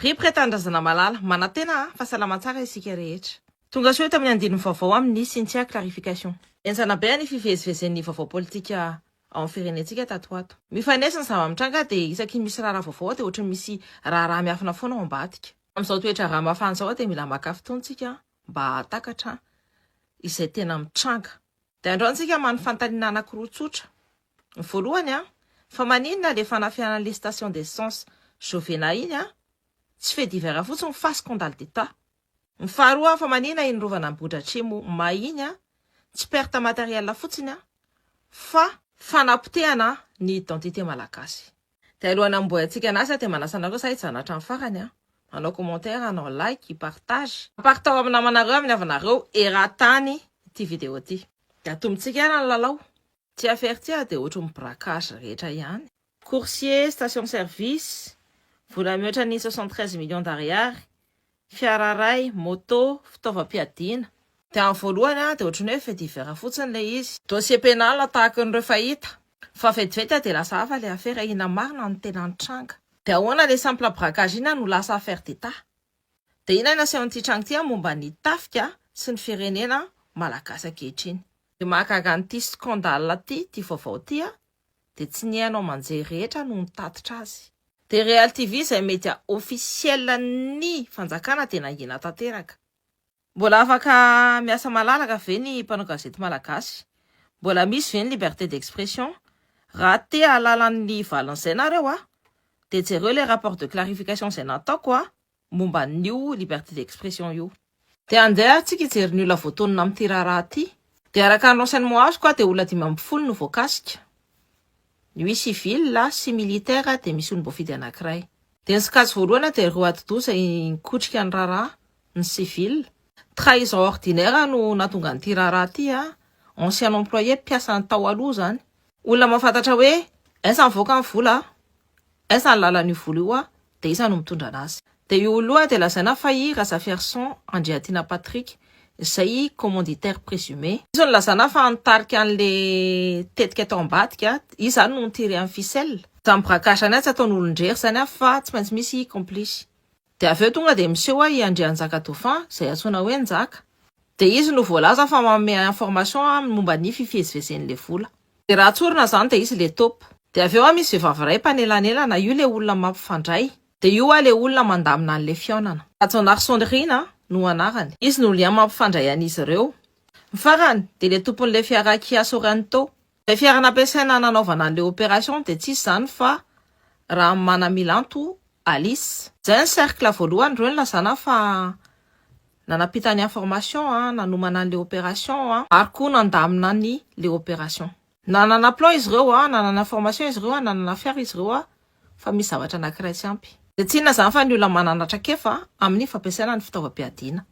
Rip re Tanindrazana Malala. Manantena a, fa salama tsara isika rehetra. Tongasoa eto amin'ny andininy vaovao amin' ny Cynthia Clarification. Henjana be ny fivezivezen'ny vaovao politika ao amin'ny firenentsika tato ho ato. Mifanesy ny zava-mitranga dia isaky ny misy raharaha vaovao dia ohatry ny misy raharaha miafina foana ao ambadika. Amin'izao toe-draharaha mafana izao dia mila maka fotoana isika mba hahatakatra izay tena mitranga. Dia andao antsika mano fanontaniana anankiroa tsotra. Ny voalohany an, fa maninona ilay fanafihanana an'ilay station d'essence Jovena iny an, tsy fait divers fotsiny fa scandale d'Etat? Ny faharoa an, fa maninona iny rovana Ambohidratrimo may iny an, tsy perte matérielle fotsiny an, fa fanapotehana ny identité malagasy? Dia alohan'ny hamboayantsika ny asa dia manasa anareo sa hijanona hatramin'ny farany an! Hanao commentaire, hanao like, hipartage. Partao amin'ny namanareo, amin'ny havanareo eran-tany ity vidéo ity. Dia atombontsika ary ny lalao. Ity affaire ity ary dia ohatry ny braquage rehetra ihany. Coursier, station service, vola mihoatra ny soixante treize millions d'ariary, Fiara iray, moto, fitaovam-piadiana. Dia amin'ny voalohany dia ohatran'ny hoe fait divers fotsiny ilay izy. Dossier pénal tahaka an'ireo fahita. Fa vetivety dia lasa hafa ilay afera, inona marina no tena nitranga. Dia ahoana ilay simple braquage inona no lasa affaire d'état. Dia inona no asehon'ity tranga ity momba ny tafika sy ny firenena malagasy ankehitriny. Dia mahagaga an'ity scandale ity, ity vaovao ity an. dia tsy ny haino aman-jery rehetra no nitatitra azy. Dia Real TV izay media officiel ny fanjakana dia nangina tanteraka. Mbola afaka miasa malalaka ve ny mpanao gazety malagasy? Mbola misy ve ny liberté d'expression? Raha te hahalala ny valin'izay nareo a! Dia jereo ilay rapport de clarification izay nataoko a! momba an'io liberté d'expression io. Dia andeha ary tsika hijery ny olona voatonona amin'ity raharaha ity. Dia araka ny renseignement azoko a dia olona dimy ambin'ny folo no voakasika. Nuit civile a sy militaire a dia misy olom-boafidy anankiray. Dia ny sokajy voalohany a dia ireo atidoha izay nikotrika ny raharaha, ny civile. Trahison ordinaire no nahatonga an'ity raharaha ity a, ancien employé, mpiasa tao aloha izany. Olona mahafantatra hoe aiza mivoaka ny vola a. Aiza ny lalan'io volo io an, dia iza no mitondra anazy. Dia io olona io an dia lazaina fa i Razafiarison Andriatiana Patrick izay i commanditaire présumé. Izy no lazana fa nitarika anle tetika tao ambadika, izy zany no nitirer an'i ficelle. Zany braquage zany an tsy ataony olondrery zany an fa tsy maintsy misy i complice. Dia avy eo tonga dia miseho an i Andrianjaka Dauphin izay antsoina hoe Njaka. Dia izy no voalaza fa manome information an momba ny fifihezivezen'le vola. Dia raha tsorina izany dia izy le top. Dia avy eo hoa misy vehivavy iray mpanelanelana, io le olona mampifandray, dia io hoa le olona mandamina an'le fihaonana. Rajaonarisonirina no anarany. Izy no lien mampifandray an'izy ireo. Ny farany dia le tompon'le fiara Kia Sorento. Ilay fiara nampiasaina nanaovana an'le opération dia tsy iza izany fa Ramanamilanto Alice. Izay ny cercle voalohany ireo nilazana fa Nanampita ny information an, nanomana an'le operation an, ary koa nandamina an'i le operation. Nanana plan izy ireo an, nanana information izy ireo an, nanana affaire izy ireo an, fa misy zavatra anankiray tsy ampy. Dia tsy inona izany fa ny olona manana traikefa amin'ny fampiasana ny fitaovam-piadiana.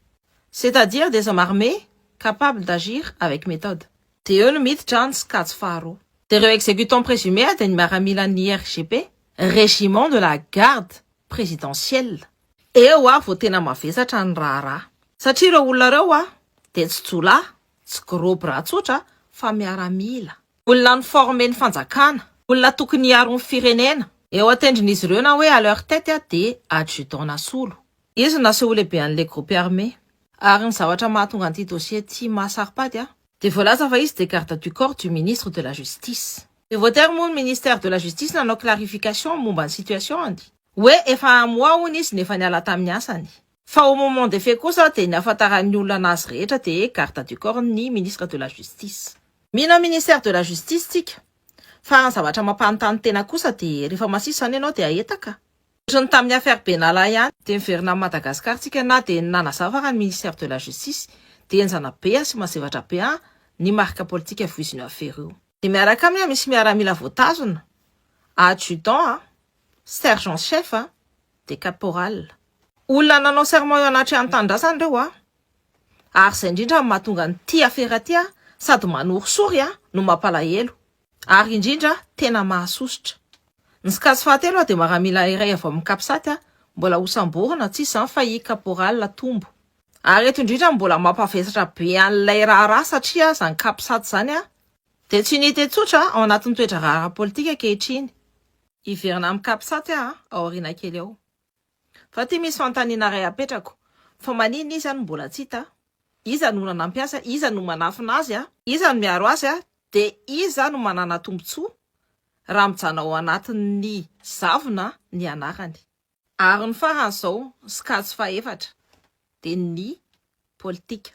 C'est à dire des hommes armés capables d'agir avec méthode. Dia eo no miditra ny sokajy faharoa. Dia ireo exécutants présumés dia ny miaramilan'ny IRGP, Régiment de la Garde Présidentielle. Eo aho vao tena mavesatra ny raharaha. Satria ireo olona ireo aho dia tsy jiolahy, tsy gros bras tsotra fa miaramila. Olona ni-former ny fanjakana, olona tokony hiaro ny firenena. Eo an-tendron'izy ireo na hoe à leur tête aho dia adjudant nasolo. Izy no naseho ho lehibean'ilay groupe armé. Ary ny zavatra mahatonga an'ity dossier ity mahasaropady ahy. Dia voalaza fa izy dia garde du corps du ministre de la justice. Dia voatery moa ny ministère de la justice nanao clarification momba ny situation-ny. Hoe efa à moi hono izy no efa niala tamin'ny asany. Fa au moment des faits kosa dia ny ahafantaran'ny olona anazy rehetra dia garde du corps n'ny ministre de la justice. Mino an'i ministère de la justice tsika. Fa raha ny zavatra mampanontany tena kosa dia rehefa masisy izany ianao dia ahetaka? Ohatry ny tamin'ny affaire Benalla ihany dia miverina amin'i Madagascar tsika na dia ny nanazava raha ny ministère de la justice dia henjana be an sy mazevatra be an ny marika politika voizin'io affaire io. Dia miaraka aminy an misy miaramila voatazona, adjudant an. Sergent chef dia caporal. Olona nanao serment eo anatrehan'ny tanindrazana ireo an! Ary izay indrindra no mahatonga an'ity afera ity sady manorisory no mampalahelo. Ary indrindra tena mahasosotra. Ny scasse fahatelo dia maramila iray avy ao amin'ny capsat mbola hosamborina, tsy iza izany fa i caporal Tombo. Ary eto indrindra no mbola mampavesatra be an'ilay raharaha satria izany capsat izany Dia tsy unité tsotra ao anatin'ny toe-draharaha ara-politika ankehitriny. Hiverina amin'ny Capsat aho ao aoriana kely ao. Fa ity misy fanontaniana iray apetrako, fa maninona izy no mbola tsy hita? Iza no olona nampiasa? Iza no manafina azy? Iza no miaro azy? Dia iza no manana tombontsoa raha mijanona ao anatin'ny zavona ny anarany? Ary ny farany zao sokajy fahefatra de ny politika.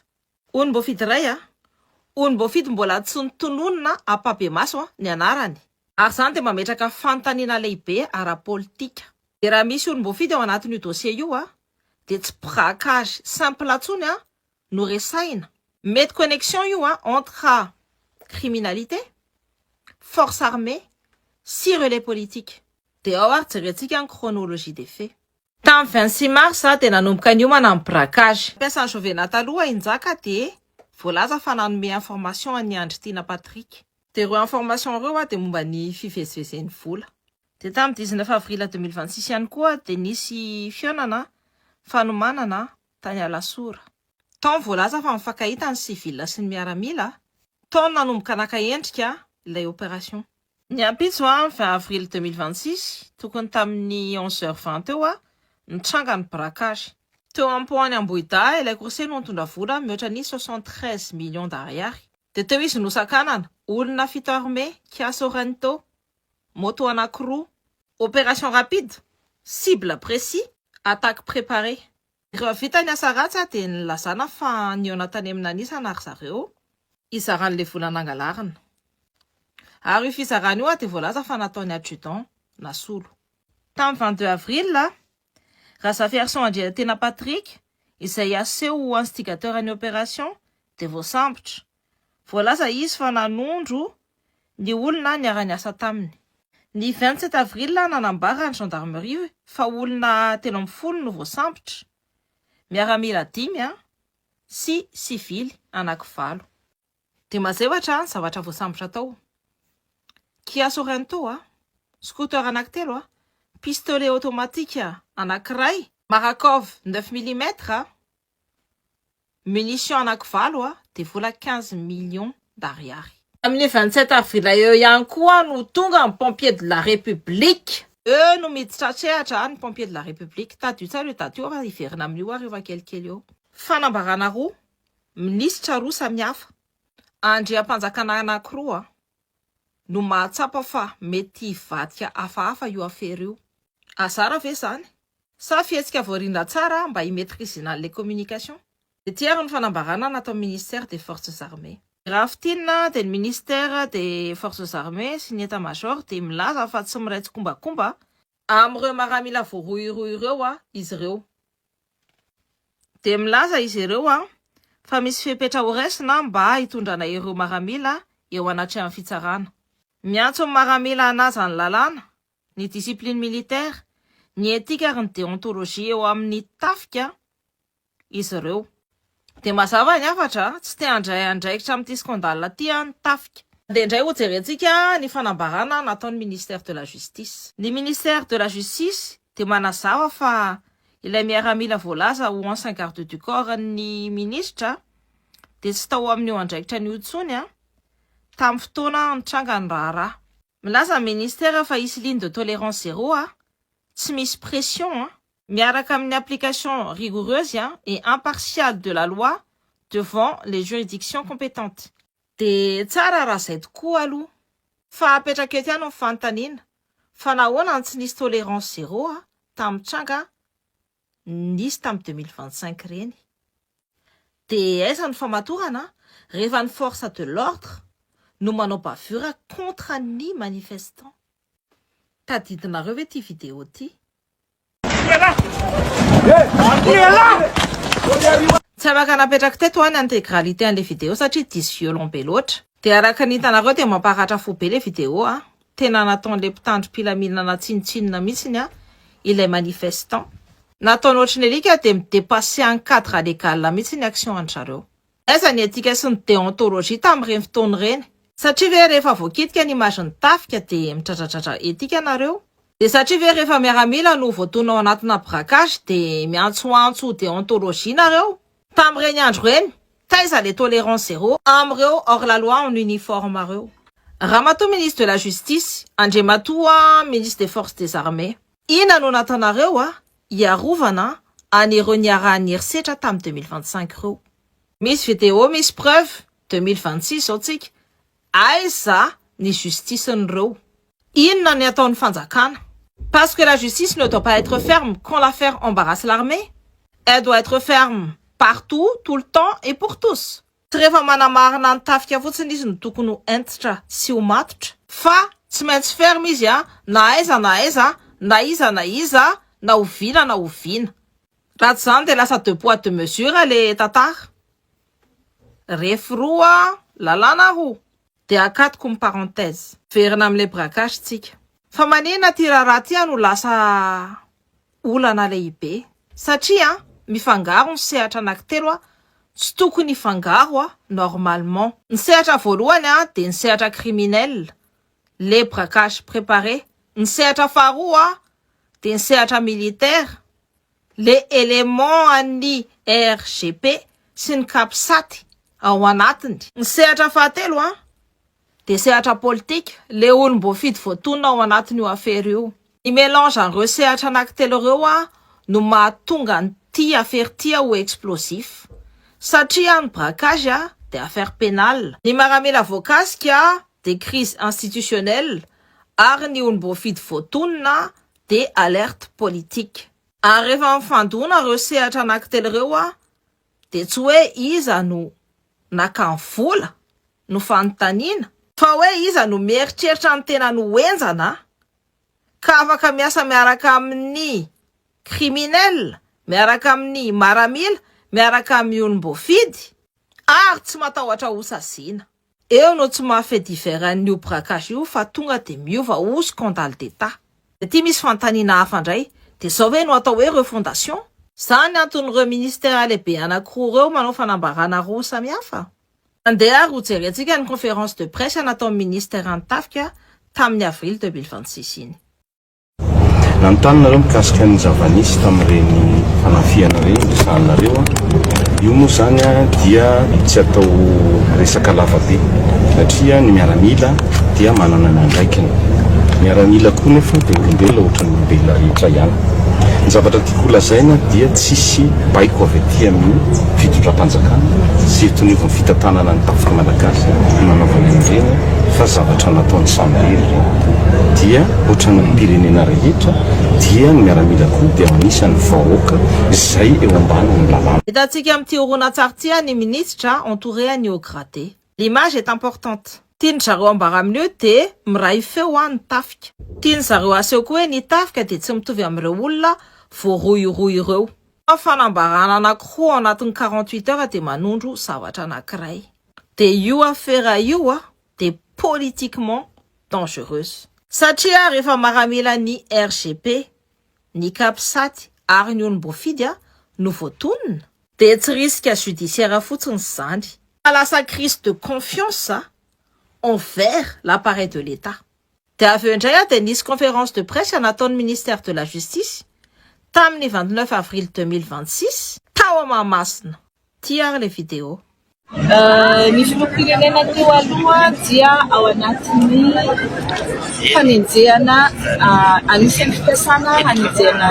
Onim-boafidy iray a! Onim-boafidy mbola tsy notononina ampabemaso a! ny anarany. Ary zany de mametraka fanontaniana lehibe ara-politika. De raha misy onim-boafidy ao anatin'io dossier io a! de tsy mpgakary simple tsony a! no resahina. Mety connexion io a entre criminalité, force armée sy relais politique. Dia ao ary jerentsika ny chronologie des faits. Tamin'ny vingt six mars dia nanomboka niomana ny braquage. Mpiasan'ny Jovena taloha i Njaka dia voalaza fa nanome information an'i Andritiana Patrick. Dia ireo information ireo dia momba ny fivezivezen'ny vola. Dia tamin'ny dix neuf avril deux mille vingt six ihany koa dia nisy fihaonana fanomanana tany Alasora. Tao ny voalaza fa mifankahita ny civil sy ny miaramila, tao ny nanomboka naka endrika ilay opération. Ny ampitso, ny vingt avril deux mille vingt-six, tokony tamin'ny onze heures vingt teo hoa, nitranga ny braquage. Teo am-poan'i Ambohidahy ilay coursier no nitondra vola mihoatra ny soixante-treize millions d'ariary. Dia teo izy nosakanana, olona fito armé, Kia Sorento, moto anankiroa. Opération rapide, cible précis, attaque préparée. Rehefa vita ny asa ratsy dia nilazana fa nihaona tany amina anisana ry zareo hizara an'ilay vola nangalarina. Ary io fizarana io dia voalaza fa nataon'ny adjudant, Nasolo. Tamin'ny vingt deux avril, Razafiarison Andriantena Patrick, izay aseho ho instigateur ny opération, dia voasambotra. Voalaza izy fa nanondro ny olona niara-niasa taminy. Ny vingt sept avril nanambara ny gendarmerie fa olona telo ambin'ny folo no voasambotra, miaramila dimy sy sivily anaky valo. Dia mazevatra ny zavatra voasambotra tao, Kia Sorento, scooter anankitelo, pistolet automatique anankiray, Marakov neuf millimètres, munitions anankivalo dia vola quinze millions d'ariary. Tamin'ny vingt sept avril eo ihany koa no tonga ny Pompiers de la République. Eo no miditra an-tsehatra ny Pompiers de la République. Tadidio tsara io daty io fa hiverina amin'io ary efa kelikely eo. Fanambarana roa Minisitra roa samihafa, andriampanjakana anankiroa no mahatsapa fa mety hivadika hafahafa io afera io. Azara ve izany? Sa fihetsika voarindra tsara mba hi-maîtrisena les communications? Ity ary ny fanambarana nataon'ny Ministère des Forces Armées. Raha fintinina dia ny Ministère des Forces Armées sy ny État-major dia milaza fa tsy miray tsikombakomba Amin'ireo maramila voarohirohy ireo izy ireo, dia milaza izy ireo fa misy fepetra horaisina mba hitondrana ireo maramila eo anatrehan'ny fitsarana. Miantso ny maramila hanaja ny lalàna, ny discipline militaire, ny etika ary ny deontologie eo amin'ny tafika izy ireo. Dia mazava ny hafatra, tsy te handray andraikitra amin'ity scandale ity ny tafika. Dia indray hojerentsika ny fanambarana nataon'ny Ministère de la Justice. Ny Ministère de la Justice dia manazava fa ilay miaramila voalaza ho ancien garde du corps n'ny Minisitra dia tsy tao amin'io andraikitra io intsony tamin'ny fotoana nitranga ny raharaha. Milaza ny ministera fa hisy ligne de tolérance zéro a, tsy misy pression a, miaraka amin'ny application rigoureuse et impartiale de la loi devant les juridictions compétentes. Dia tsara raha izay tokoa aloha. Fa apetraka eto ihany ny fanontaniana, fa nahoana no tsy nisy tolérance zéro a, tamin'ny tranga a? nisy tamin'ny deux mille vingt cinq ireny. Dia aiza ny famatorana rehefa ny force de l'ordre no manao bavure contre ny manifestant. Tadidinareo ve ity video ity? Tsy afaka napetrak'i Teto an ny integralité an'ilay video satria diso violon be loatra. Dia araka ny hitanareo dia mamparatra fo be ilay vidéo a! Tena nataon'ilay mpitandro mpilaminana tsinontsinona mihitsiny a! Ilay manifestant. Nataony ohatry ny alika dia mi-depasser ny cadre légal mihitsy ny action an-dry zareo. Aiza ny etika sy ny déontologie tamin'ireny fotoana ireny? Satria ve rehefa voakitika ny image ny tafika dia midradradradra etika nareo? Dia satria ve rehefa miaramila no voatonona ao anatina braquage dia miantsoantso déontologie nareo? Tamin'ireny andro ireny, taiza le tolerance zero amin'ireo hors la loi en uniforme reo? Ramatoa ministre de la justice, Andriamatoa ministre des forces des armées. Inona no natanareo a hiarovana an ireo niarahan'ny herisetra tamin'ny deux mille vingt cinq reo? Misy video misy preuve, deux mille vingt six zao tsika, Aiza ny justice n'ireo? Inona ny ataon'ny fanjakana? Parce que la justice ne doit pas etre ferme quand l'affaire embarrasse l'armée? Elle doit etre ferme partout, tout le temps et pour tous. Tsy rehefa manamarina ny tafika fotsiny izy no tokony ho hentitra sy ho matotra, fa tsy maintsy ferme izy a, na aiza na aiza, na iza na iza, na oviana na oviana. Raha tsy izany dia lasa deux poids deux mesures le tantara. Ref roa lalàna aho dia akatoko ny parenthèse. Verina amin'ilay braquage tsika. Fa manina ity raharaha ity no lasa olana lehibe satria mifangaro ny sehatra anakitelo tsy tokony hifangaro normalement. Ny sehatra voalohany dia ny sehatra criminel, le braquage prépare, ny sehatra faharoa dia ny sehatra militaire, Le élément an'ny RGP sy ny Capsat ao anatiny. Ny sehatra fahatelo an, dia sehatra politika, le olom-boafidy voatonona ao anatin'io afera io. Ny mélange an'ireo sehatra anankitelo ireo an no mahatonga an'ity afera ity ho explosif. Satria ny braquage an dia affaire pénale, ny maramila voakasika dia crise institutionnelle ary ny olom-boafidy voatonona dia alerte politique. Ary rehefa mifandona ireo sehatra anakitelo ireo a, dia tsy hoe iza no naka ny vola no fanontaniana, fa hoe iza no mieritreritra ny tenany ho henjana ka afaka miasa miaraka amin'ny criminel, miaraka amin'ny maramila, miaraka amin'ny olom-boafidy ary tsy matahotra hosaziana. Eo no tsy maha fait divers an'ny io braquage io fa tonga dia miova ho scandale d'Etat. Dia aty misy fanontaniana hafa indray, dia izao ve no atao hoe refondation? Izany anton'ireo ministera lehibe anankiroa ireo manao fanambarana roa samihafa? Andeha ary ho jerentsika ny conférence de presse nataon'ny minister ny tafika tamin'ny avril deux mille vingt six iny. Nanontany nareo mikasika ny zava-nisy tamin'ireny fanafihana ireny resahanareo. Io moa izany dia tsy atao resaka lava be satria ny miaramila dia manana ny andraikiny. Miaramila koa nefa dia olombelona ohatran'ny olombelona rehetra ihany. Ny zavatra tiako holazaina dia tsisy baiko avy aty amin'ny fitondram-panjakana sy eto anivon'ny fitantanana ny tafiky Malagasy no nanaovana an'ireny fa zavatra nataon'ny samirery ireny. Dia. Ohatran'ny mpirenena rehetra dia ny miaramila koa dia anisan'ny vahoaka izay eo ambanin'ny lalàna. Hitantsika amin'ity horonantsary ity ny minisitra entouré an'i au gratte. L'image est importante. Tian'ny zareo ambara amin'ny hoe dia miray feo an ny tafika. Tian'ny zareo aseho koa hoe ny tafika dia tsy mitovy amin'ireo olona voarohirohy ireo. Fa fanambarana anankiroa ao anatin'ny quarante-huit heures dia manondro zavatra anankiray. Dia io afera io an. de politiquement dangereuse. Satria rehefa maramila ny RGP, ny Capsat ary ny olom-boafidy no voatonona? Dia tsy risque judiciaire fotsiny izany. Fa lasa crise de confiance envers l'appareil de l'Etat. Dia avy eo indray dia nisy conférence de presse nataon'ny ministère de la Justice, tamin'ny vingt neuf avril deux mille vingt six, tao Mahamasina, ity ary ilay vidéo. Ny filoham-pirenena teo aloha dia ao anatin'ny fanenjehana, anisan'ny fikasana hanenjehana.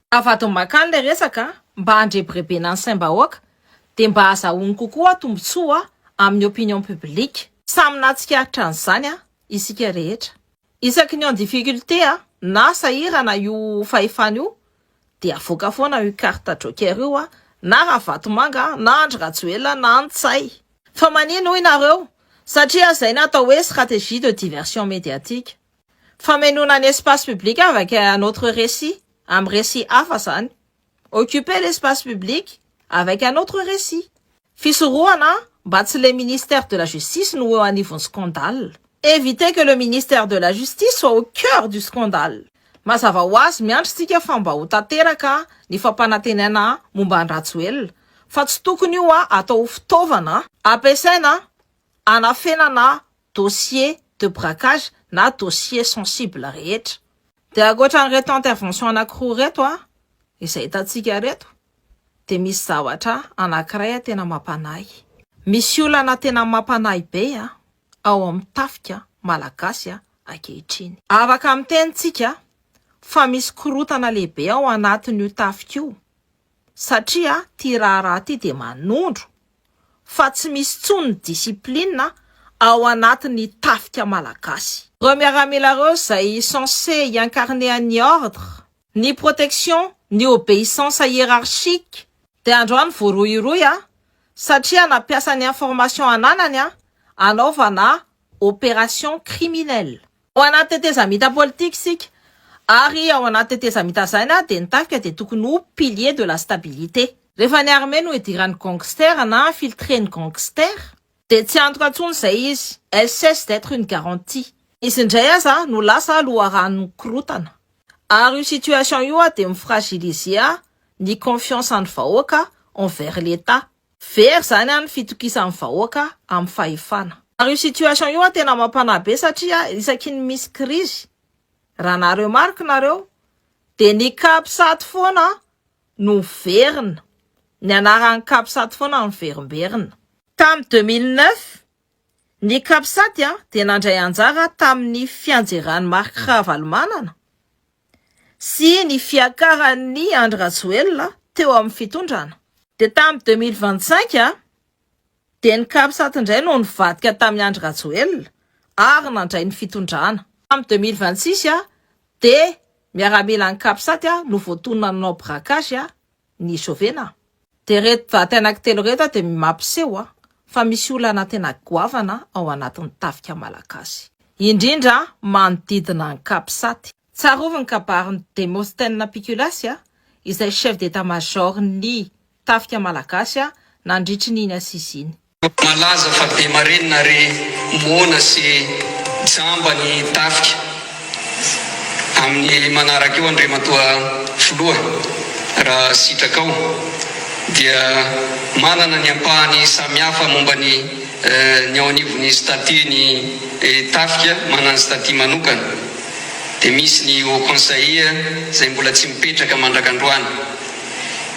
Avadin'i Makany ilay resaka mba handrebirebena ny saim-bahoaka dia mba hazahoany kokoa tombontsoa amin'ny opinion publique. Samy nahatsikaritra an'izany isika rehetra. Isaky ny en difficulté na sahirana io fahefana io dia avoaka foana io carte joker io na Ravatomanga na Andry Rajoelina na Ntsay. Fa manino hoy nareo? Satria izay no atao hoe stratégie de diversion médiatique. Famenoana ny espace public avec un autre récit, amin'ny récit hafa izany. Occuper l'espace public avec un autre récit. Fisorohana mba tsy le ministère de la justice no ho eo anivon'ny scandale. Éviter que le ministère de la justice soit au cœur du scandale. Mazava ho azy miandry tsika fa mba ho tanteraka ny fampanantenana momba an'i Rajoelina, fa tsy tokony io atao ho fitaovana ampiasaina hanafenana dossier de braquage na dossier sensible rehetra. Dia ankoatran'ireto intervention anankiroa ireto izay hitantsika ireto dia misy zavatra anankiray tena mampanahy. Misy olana tena mampanahy be ao amin'ny tafika malagasy ankehitriny. Afaka miteny tsika fa misy korotana lehibe ao anatin'io tafika io. satria ty raharaha ty dia manondro fa tsy misy tsony ny discipline ao anaty ny tafika malagasy. Reo miaramila reo zay censé hi-incarner an'ny ordre, ny protection, ny obeissance hiérarchique dia androany voarohirohy a! satria nampiasa ny information ananany a! anaovana opération criminelle. Ao anaty tetezamita politika isika ary ao anaty tetezamita izay na dia ny tafika dia tokony ho pilier de la stabilité. Rehefa ny armée no idiran'ny gangster na infiltré ny gangster dia tsy antoka intsony izay izy, elle cesse d'etre une garantie. Izy indray aza no lasa loharanon'ny korotana ary io situation io dia mi-fragiliser ny confiance an'ny vahoaka envers l'Etat. Very zany an ny fitokisan'ny vahoaka amin'ny fahefana. Ary io situation io an tena mampanahy be satria isaky ny misy crise raha na remarque nareo dia ny capsat foana no miverina, ny anaran'ny capsat foana no miverimberina. Tamin'ny deux mille neuf, ny capsat dia nandray anjara tamin'ny fianjeran'i Marc Ravalomanana sy ny fiakaran'i Andry Rajoelina teo amin'ny fitondrana. Dia tamin'ny deux mille vingt cinq dia ny Capsat indray no nivadika tamin'i Andry Rajoelina ary nandray ny fitondrana. Tamin'ny deux mille vingt six dia miaramilan'ny Capsat no voatonona nanao braquage ny Sovena a! Dia reto daty anakitelo reto a dia mampiseho a fa misy olana tena goavana ao anatin'ny tafika malagasy, indrindra manodidina an'i Capsat. Tsarovy ny kabarin'i Démosthène Piculas a, izay chef d'état major-n'ny tafika malagasy a nandritry n'iny assises iny. Malaza fa be marenina ary moana sy jamba ny tafika amin'ny manaraka io Andriamatoa Filoha raha sitrakao dia manana ny ampahany samihafa momba ny ny ao anivon'ny statut ny tafika manana ny statut manokana dia misy ny haut conseil izay mbola tsy mipetraka mandrak'androany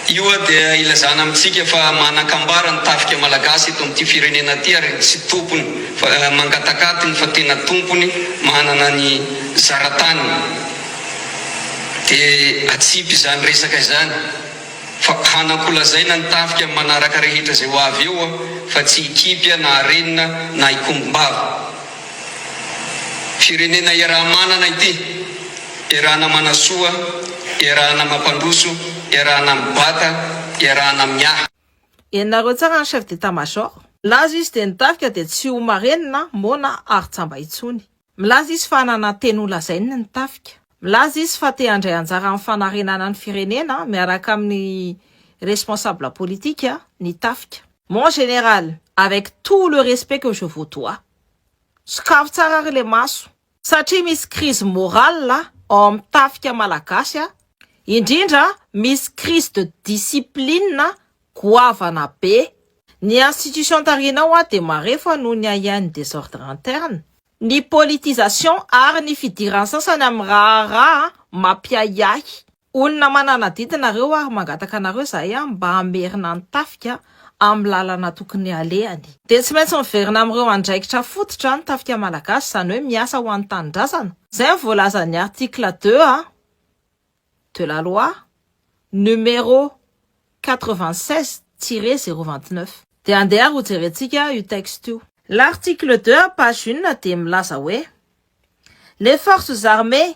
Io dia ilazana amintsika fa manan-kambara ny tafika malagasy eto amin'ity firenena ity ary tsy tompony fa mangatak'atiny fa tena tompony manana ny zarataniny. Dia atsipy izany resaka izany fa hanakolazaina ny tafika amin'ny manaraka rehetra izay ho avy eo aho fa tsy hikipy na harenina na hikombom-bava. Firenena iaraha-manana ity. Iarahana manasoa, iarahana mampandroso, iarahana mibata, iarahana miahy. Henonareo tsara ny chef d'état major. Milaza izy dia ny tafika dia tsy ho marenina, moana ary jamba intsony. Milaza izy fa hanana teny ho lazainy ny tafika. Milaza izy fa te handray anjara amin'ny fanarenana ny firenena miaraka amin'ny responsable politique ny tafika. Mon général, avec tout le respect que je vous dois, sokafy tsara ary le maso. Satria misy crise morale ao amin'ny tafika malagasy a! indrindra misy crise de discipline goavana be! ny institution tarihinao a dia marefo noho ny ahiahin'ny desordre interne, ny politisation ary ny fidiran'ny sasany amin'ny raharaha mampiahiahy. Olona mananadidy nareo ary mangataka anareo zahay mba hamerina ny tafika amin'ny lalana tokony alehany. Dia tsy maintsy miverina amin'ireo andraikitra fototra ny tafika malagasy, izany hoe miasa ho an'ny tanindrazana. Izay no voalazan'ny article deux A de la loi numéro quatre-vingt-seize tiret zéro vingt-neuf. Dia andeha ary hojerentsika io texte io. L'article deux A page une dia milaza hoe, Les forces armées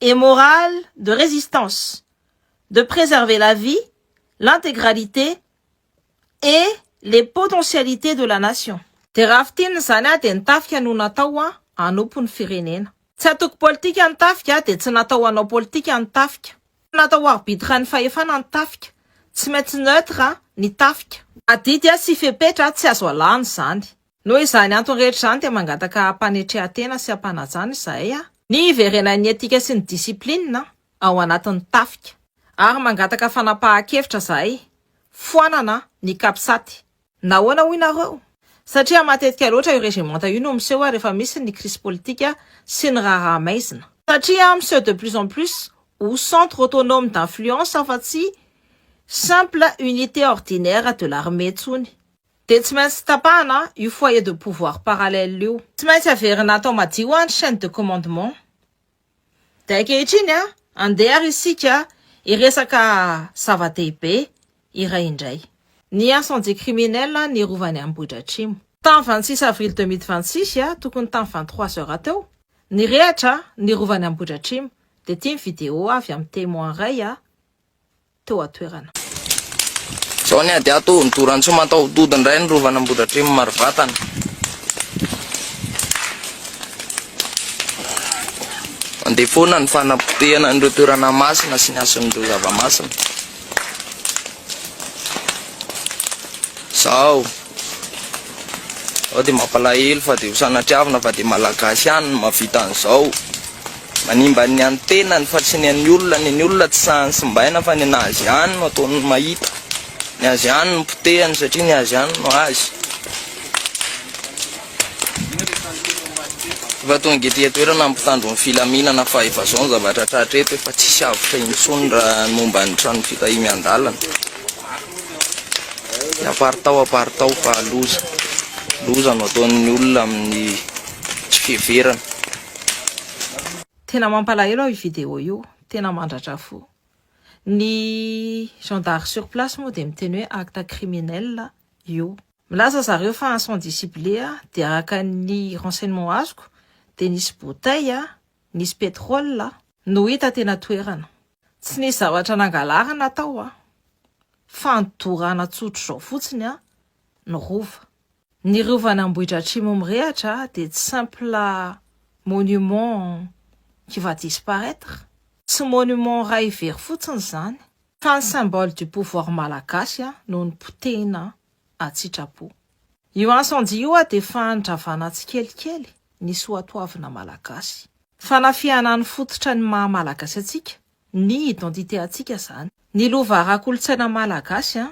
et morale de résistance de préserver la vie, l'intégralité et les potentialités de la nation. Dia raha fintinina izany aho dia ny tafika no natao ho anompo ny firenena. Tsy antoko politika ny tafika dia tsy natao hanao politika ny tafika. Tsy natao ho arbitre ny fahefana ny tafika. Tsy maintsy neutre ny tafika. Adidy sy fepetra tsy azo alana izany. Noho izany antony rehetra izany dia mangataka hampanetrehan-tena sy hampanajana izahay an! Ny hiverenan'ny etika sy ny discipline ao anatin'ny tafika. Ary mangataka fanapahan-kevitra izahay, foanana ny Capsat. Nahoana hoy nareo? Satria matetika loatra io regementa io no miseho rehefa misy ny crise politika sy ny raharaha maizina. Satria miseho de plus en plus ho centre autonome d'influence fa tsy simple unité ordinaire de l'armée intsony. Dia tsy maintsy tapahana io foyer de pouvoir parallèle io. Tsy maintsy averina atao madio an ny chaine de commandement. Dia ankehitriny an, andeha ary isika hiresaka zava-dehibe iray indray. Ny incendie criminel ny Rovan'i Ambohidratrimo. Tamin'ny vingt six avril deux mille vingt six, tokony tamin'ny vingt trois heures teo, nirehatra ny Rovan'i Ambohidratrimo. Dia ity ny vidéo avy amin'ny témoin iray teo an-toerana. Izao ny ady ato Nidoran-tsoa mataho-dody indray ny Rovan'i Ambohidratrimo Marivatana. Mandeha foana ny fanapotehana an'ireo toerana masina sy ny hasin'ireo zava-masina. Izao. Izao dia mampalahelo fa dia ho sanatriavina fa dia Malagasy ihany no mahavita an'izao. Manimba ny an'ny tenany fa tsy ny an'ny olona, ny an'ny olona tsy sahan'ny simbaina fa ny an'azy ihany no ataony mahita, ny azy ihany no potehany satria ny azy ihany no azy. Efa tonga ety an-toerana ny mpitandro ny filaminana fa efa izao ny zavatra tratra eto, efa tsisy avotra intsony raha ny momba ny trano fitahian-dalana. Dia aparitao aparitao fa loza, loza no ataon'ny olona amin'ny tsy fiheverana. Tena mampalahelo aho io vidéo io, tena mandratra fo. Ny gendarme sur place moa dia miteny hoe acte criminel io. Milaza zareo fa incendie ciblé dia araka ny renseignement azoko dia nisy bouteille, nisy pétrole, no hita teny an-toerana. Tsy nisy zavatra nangalarina tao fa nodorana tsotr'izao fotsiny ny rova. Ny rovan'Ambohidratrimo mirehatra dia tsy simple monument qui va disparaître, tsy monument iray very fotsiny izany, fa ny symbole du pouvoir malagasy no nopotehina an-tsitrapo. Io incendie io dia fanondravana tsikelikely ny soatoavina malagasy. Fanafihana ny fototra ny maha malagasy antsika, ny identité antsika izany. Ny lova ara-kolontsaina malagasy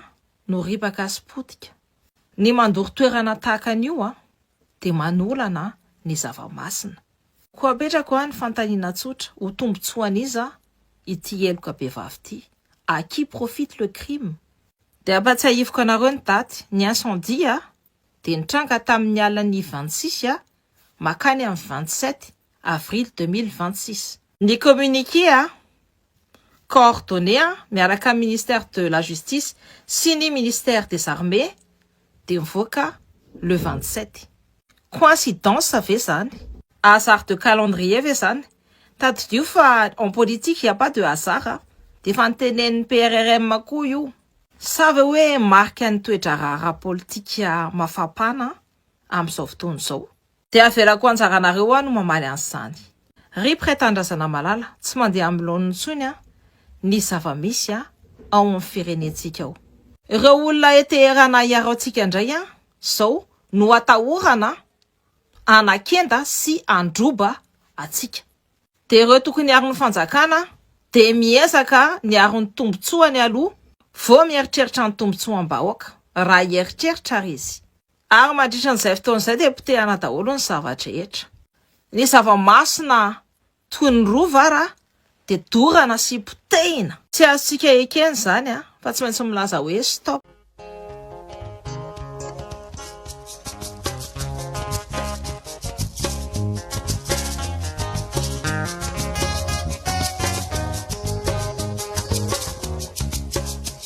no ripaka sy potika. Ny mandoro toerana tahaka an'io dia manolana ny zava-masina. Koa apetrako aho ny fanontaniana tsotra, ho tombontsoan'iza ity heloka bevava ity? À qui profite le crime? Dia ampatsiahiviko anareo ny daty, ny incendie dia nitranga tamin'ny alin'ny vingt six makany amin'ny vingt sept avril deux mille vingt six. Ny communiqué a coordonné a miaraka amin'ny ministère de la justice sy ny ministère des armées dia nivoaka le vingt sept. Coïncidence ve izany? Hasard de calendrier ve izany? Tadidio fa en politique il n'y a pas de hasard a! Dia efa notenenin'ny PRRM koa io. Sa ve hoe marikan'ny toe-draharaha ara-politika mafampana amin'izao fotoana izao? Dia avelako anjaranareo aho no mamaly an'izany. Rip Ray Tanindrazana Malala, tsy mandeha amin'ny laoniny intsony an, ny zava-misy an, ao amin'ny firenentsika ao. Ireo olona ety Teheranah iaraontsika indray an, izao no atahorana hanakenda sy handroba antsika. Dia ireo tokony hiaro ny fanjakana dia miezaka niaro ny tombotsoany aloha vao mieritreritra ny tombotsoam-bahoaka, raha hieritreritra ary izy. Ary mandritra an'izay fotoana izay dia potehana daholo ny zava-drehetra. Ny zava-masina toy ny rova ara dia dorana sy potehina. Tsy azontsika ekena izany fa tsy maintsy milaza hoe stop.